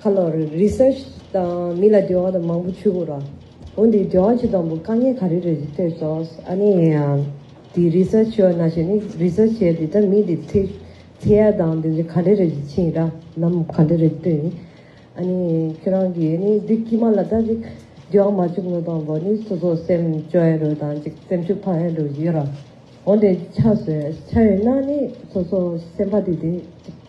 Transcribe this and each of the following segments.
ཁ་ལོ་རེ Research དང་མི་ལ་འབྲེལ་བ་དང་མང་པོ་ཆུ་བོ་ར། འོན་ཏེ་འབྲེལ་བ་ཆུ་དང་པོ་དཀའ་ངལ་ག་རེ་རེད་ཅེས་ཐོས་སོང་ཨ་ནི་ཡིན་ཡང་དེ Research བྱོས་ན་བྱས་ནི Research བྱས་དེ་དག་མི་དེ་ཚེ་ཚེ་ཡ་དང་དེ་ག་རེ་རེད་ཅེས་ཕྱིན་ར་ནམ་ག་རེ་རེད་ལྟོས་ནི་ཨ་ནི་ཁྱོད་རང་གིས་ཨ་ནི་འདི་དཀྱུས་མ་ལ་ད་ཅིག་འབྲེལ་བ་མ་བཅུག་ནོ་དང་པོ་ནི་སོ་སོ་སེམས་སྐྱོ་ཡན་རུ་དང་ཅིག་སེམས་ཤུགས་འཕར་ཡན་རུ་ཡོད་ར་འོན་ཏེ་ཆ་ཟོས་ཆ་ཡོད་ན་ནི་སོ་སོ་སེམས་པ་དེ་དེ་ཅིག།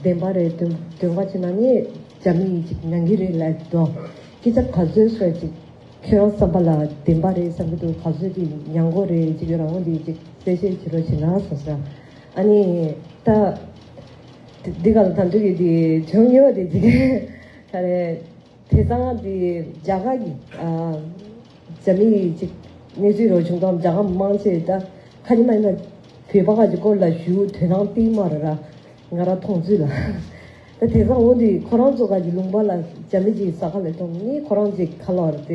བདེན་པ་རེད་དོན་དོན་ག་ཅིག་ན་ནི་རྒྱ་མི་ཡིས་ཅིག་ཉན་གི་རེད་ལབ་གི་འདུག་སྐད་ཆ་ག་ཟོད་བཤད་ཅིག་ཁྱོད་རང་བསམ་པ་ལ་བདེན་པ་རེད་བསམ་གི་འདུག་ག་ཟོད་ཀྱི་ཉན་གོ་རེ་ཅིག་རང་ངོ་འདི་ཅིག་གསལ་བཤད་བྱེད་རོགས་བྱས་ན་བཟང་ས་ཨ་ནི་ད། འདི་ག་ལ་ད་འདུག་གི་འདི་བྱུང་ཡོད་དེ་འཇིག་གི་ད་རེད། དེ་དང་དེ་རྒྱ་གར་གྱི་རྒྱ་མི་ཡིས་ཅིག་གནས་ཚུལ་རོ་བྱུང་དང་རྒྱ་གར་མི་མང་ཆེ་ད་ཁ་ཉི་མ་ཡིན་ན་བོད་པ་ཁ་ཅིག་སྐོར་ལ་ཞུ་དོན་རང་སྟེང་མ་ར་ར་ང་ར་ཐོང་ཚུལ་ལ། ད་དེ་སང་འོ་འདི་ཁོ་རང་ཚོ་ཁ་ཅིག་ལུང་པ་ལ་རྒྱ་མི་ཅིག་ས་ཁ་ལས་ཐོང་ངས་ཁོ་རང་ཅིག་ཁ་ལོ་ར་ཏེ།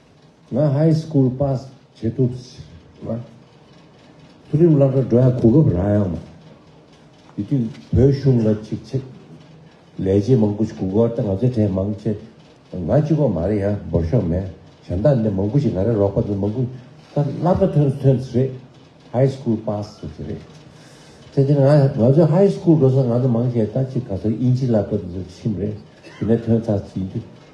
ང High School Pass བྱེད་ཐུབ། མཐོ་རིམ་བླ་གྲྭ་འགྲོ་ཡག་གོ་སྐབས་རག་ཡག་མ། དེ་དུས་བོད་གཞུང་ལ་ཅིག་ཆེ། ལས་བྱེད་མང་པོ་ཞིག་གུག་གོར་ཏེ་ང་ཚོའི་གྲས་མང་ཆེ། ང་གཅིག་པོ་མ་རེད་ཡ་འབོར་ཤོག་མེད་གཞན་དག་འདི་མང་པོ་ཞིག་ང་རེ་རོགས་པ་འདི་མང་པོ། ད་བླ་གྲྭ་ཐོན་ཐོན་རེད High School Pass བྱེད་ཀྱི་རེད། དེ་དུས་ང་ང་ཚོ High School འགྲོ་ས་ང་ཚོ་མང་ཆེ་ད་ཅིག་ག་ཚོད་དབྱིན་ཇི་བླ་གྲྭ་འདི་ཚོ་ཁྲིམས་རེད་དེ་ནས་ཐོན་ཚར་ཡིན་དུས།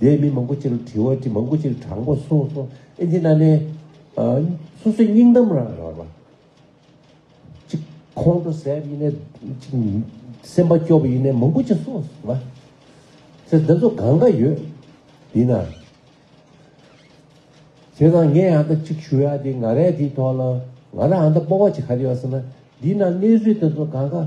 དེས་མི་མང་པོ་ཅིར་དྲི་བ་དྲི་མང་པོ་ཅིར་དྲང་པོ་གསུངས་སོ། ཨེ་ཙི་ན་ནས། སོ་སོའི་སྙིང་གཏམ་རང་རང་རོ། ཅིག། ཁོང་ཁྲོ་ཟད་པ་ཡིན་ནས། ཅིག། སེམས་པ་སྐྱོ་བ་ཡིན་ནས་མང་པོ་ཅིག་གསུངས་སོ། མ། ཟེར་འདི་ཚོ་གང་ག་ཡོད། ཡིན་ན། བྱས་ཙང་ངས་ཨ་མདའ་ཅིག་ཞུ་ཡ་དེ་ང་རས་དེའི་ཐོག་ལ། ང་ར་ཨ་མདའ་སྤོ་བ་ཅིག་ག་རེ་ཡོད་ཟེར་ན། འདི་ན་གནས་ཚུལ་དེ་ཚོ་གང་ག།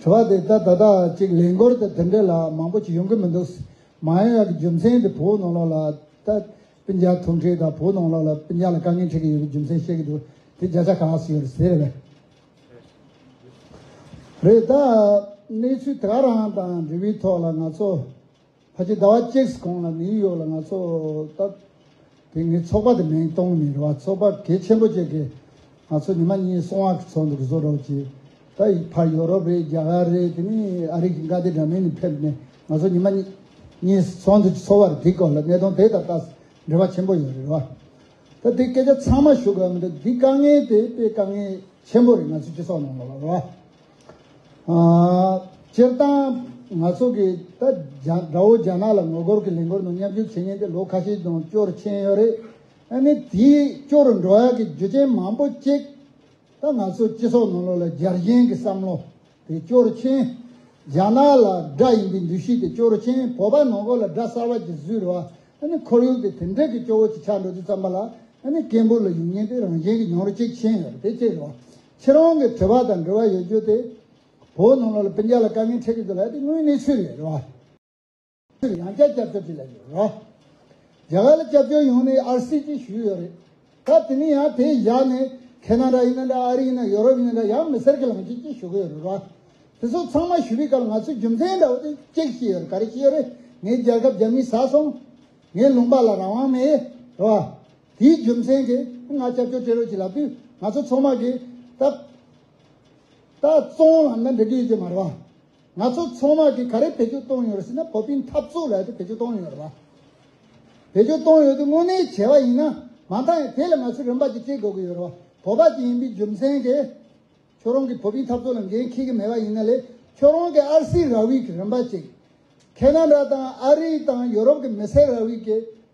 དྲི་བ་དེ་ད་ལྟ་ཅིག་ལས་འགོར་དེ་དེ་འདྲས་ལ་མང་པོ་ཅིག་ཡོང་གི་མི་འདུག་ཟེར། མ་ཡོང་ཡག་གི་རྒྱུ་མཚན་དེ་བོད་ནང་ལོགས་ལ་ད་སྤུན་ཇག་ཐུག་འཕྲད་དང་བོད་ནང་ལོགས་ལ་སྤུན་ཇག་ལ་དཀའ་ངལ་འཕྲད་ཀྱི་ཡོད་པའི་རྒྱུ་མཚན་བཤད་ཀྱི་འདུག་དེ་བརྒྱ་ཆ་གང་ཟིག་ཡོད་རེད་ཟེར། རེད་ད། གནས་ཚུལ་དེ་ག་རང་དང་འབྲེལ་བའི་ཐོག་ལ་ང་ཚོ། ཕ་གི་ཟླ་བ་གཅིག་གོང་ལ་ནིའུ་ཡོག་ལ་ང་ཚོ་སྟབས། དེ་ངའི་ཚོགས་པ་དེ་མིང་གཏོང་མི་རུང་བ་ཚོགས་པ་གལ་ཆེན་པོ་བཅས་ཀྱི་ང་ཚོ་ཉི་མ་གཉིས་སོང་བ་གི་ཚོགས་འདུ་བཟོ་རོགས་གྱིས། ད་བར་ཡོ་རོབ་རེད་རྒྱ་གར་རེད་དེ་མིན་ཨ་རིག་གི་མཁའ་སྡེ་འདྲ་མིན་ནས་ཕེབས་ནས་ང་ཚོ་ཉི་མ་གཉིས་སུ་ཚོགས་འདུ་འཚོགས་བར་དེའི་སྐོར་ལ་གནད་དོན་དེ་དང་ད་འབྲེལ་བ་ཆེན་པོ་ཡོད་རེད་བ། ད་དེ་སྐད་ཆ་ཚང་མ་ཞུ་དགོས་པ་མི་འདུག་འདི་དཀའ་ངལ་དེ་དཔེ་དཀའ་ངལ་ཆེན་པོ་རེད་ང་ཚོའི་སྤྱི་ཚོགས་ནང་ལ་བ། སྤྱིར་བཏང་ང་ཚོ་གི་ད་དགྲ་བོ་རྒྱ་ནག་ལ་ངོ་རྒོལ་གི་ལས་འགོར་ནང་མཉམ་ཞུགས་བྱེད་ཉེན་དེ་ལོ་ཁ་ཤས་དང་བཅོར་ཕྱིན་ཡོད་རེད། ཨ་ནི་དེའི་སྐྱོ་རུ་འགྲོ་ཡག་གི་རྒྱུ་ཅན་མང་པོ་གཅིག་ད་ང་ཚོ་སྤྱི་ཚོགས་ནང་ལོ་ལ་རྒྱལ་གཞེན་གི་བསམ་བློ་དེ་བཅོར་ཕྱིན། རྒྱ་ནག་ལ་དགྲ་ཡིན་པའི་འདུ་ཤེས་དེ་བཅོར་ཕྱིན་བོད་པ་ནང་ཁོ་ལ་དགྲ་གསར་བ་གྱི་བཟོས་རེད་བ་ཨ་ནི་ཁོར་ཡུག་དེ་དེ་འདྲས་གི་སྐྱོ་བོ་གཅིག་ཆགས་འགྲོ་རྒྱུ་བརྩམས་པ་ལ་ཨ་ནི་སྐད་འབོད་ལ་ཡུན་ཉེན་དེ་རང་བཞིན་གི་མྱོང་རོལ་གཅིག་ཕྱིན་ཡོད་རེད་དེ་གཅིག་རེད་བ། ཁྱེད་རང་གི་དྲི་བ་དང་འབྲེལ་བ་ཡོད་རྒྱུ་དེ། བོད་ནང་ལོག་ལ་བན་རྒྱ་ལ་དཀའ་ངལ་འཕྲད་ཀྱི་འདུག་ལ་དེ་དངོས་གནས་ཆོས་ལས་རེད་བ། ཆོས་ཡང་བསྐྱར་སྐྱབས་བཅོལ་བྱེད་ལ་ཡོད་རེད་བ། རྒྱ་གར་ལ་སྐྱབས་བཅོལ་ཡོང་ནས་ཨར་སི་ཀྱིས་ཞུས་ཡོད་རེད། སྐབས་དེ་ནས་ཡང་དེ་བཞག་ནས་ཁེ་ན་ར་ཡིན་ན་འདྲ་ཨ་རི་ཡིན་ན་ཡོ་རོབ་ཡིན་ན་འདྲ་ཡང་མི་སེར་གྱི་ལམ་ཁྱེད་ཀྱིས་ཞུ་གི་ཡོད་རེད་བ། དེ་ཚོ་ཚང་མ་ཞུས་པའི་སྐབས་ང་ཚོའི་རྒྱུ་མཚན་འདྲ་བོ་དེ་གཅིག་ཤེས་ཡོད་རེད་ག་རེ་ཤེས་ཡོད་རེད་ངའི་རྒྱལ་ཁབ་རྒྱ་མིས་ཟ་སོང། ངའི་ལུང་པ་ལ་རང་དབང་མེད་རེད་བ། དེའི་རྒྱུ་མཚན་གྱིས་ང་སྐྱབས་བཅོལ་སྤྲད་རོགས་གྱིས་ལབ་དུས་ང་ཚོ་ཚོང་དམག་གིས་ད། ད་བཙོང་ལམ་ན་འགྲེང་གི་ཡོད་ཀྱི་མ་རེད་བ། ང་ཚོ་ཚོང་དམག་གིས་ག་རེ་བེད་སྤྱོད་གཏོང་ཡོད་རེད་ཟེར་ན་བོད་པའི་འཐབ་རྩོད་ལ་ཡོད་དུ་བེད་སྤྱོད་གཏོང་ཡོད་རེད་བ། བེད་སྤྱོད་གཏོང་ཡོད་དུས་དངོས་གནས་བྱས་བ་ཡིན་ན་མ་མཐའ་ཡང་དེ་ལ་ང་ཚོས་རིན་པ་གྱིས་སྤྲད་དགོས་ཀྱི་ཡོད་རེད་བ། བོད་པ་དེ་ཡིན་པའི་རྒྱུ་མཚན་གྱིས་ཁྱོད་རང་གིས་བོད་པའི་འཐབ་རྩོད་ལ་འགན་འཁྱེར་གྱི་མེད་བ་ཡིན་ན་ལས་ཁྱོད་རང་གིས་ཨར་སིའི་ར་བིས་ཀྱི་རིན་པ་ཅིག། ཁེ་ན་ར་དང་ཨ་རི་དང་ཡོ་རོབ་ཀྱི་མི་སེར་ར་བིས་ཀྱི།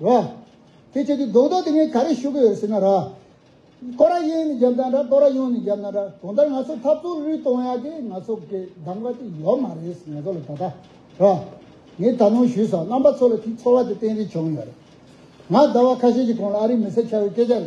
རོ། དེ་ཁྱོད་ཀྱི་རྡོག་རྡོག་དེ་ངས་ག་རེ་ཞུ་གི་ཡོད་ཟེར་ན་ར། ཀོ་ར་ཡེ་ནས་རྒྱབ་ན་འདྲ་ཀོ་ར་ཡོང་ནས་རྒྱབ་ན་འདྲ་གང་ལྟར་ང་ཚོ་འཐབ་རྩོད་རུལ་གཏོང་ཡག་གི་ང་ཚོ་གི་གདམ་ག་དེ་ཡོད་མ་རེད་ང་ཚོ་ལ་ད་ལྟ་རོ། ངས་ད་ནོངས་ཞུས་སོང་རྣམ་པ་ཚོ་ལ་དེའི་ཚོར་བ་དེ་བསྟན་རེ་བྱུང་ཡོད་རེད། ང་ཟླ་བ་ཁ་ཤས་ཀྱི་གོང་ལ་ཨ་རིའི་མི་སེར་ཆགས་ཡོད་སྐད་ཆ་རེད།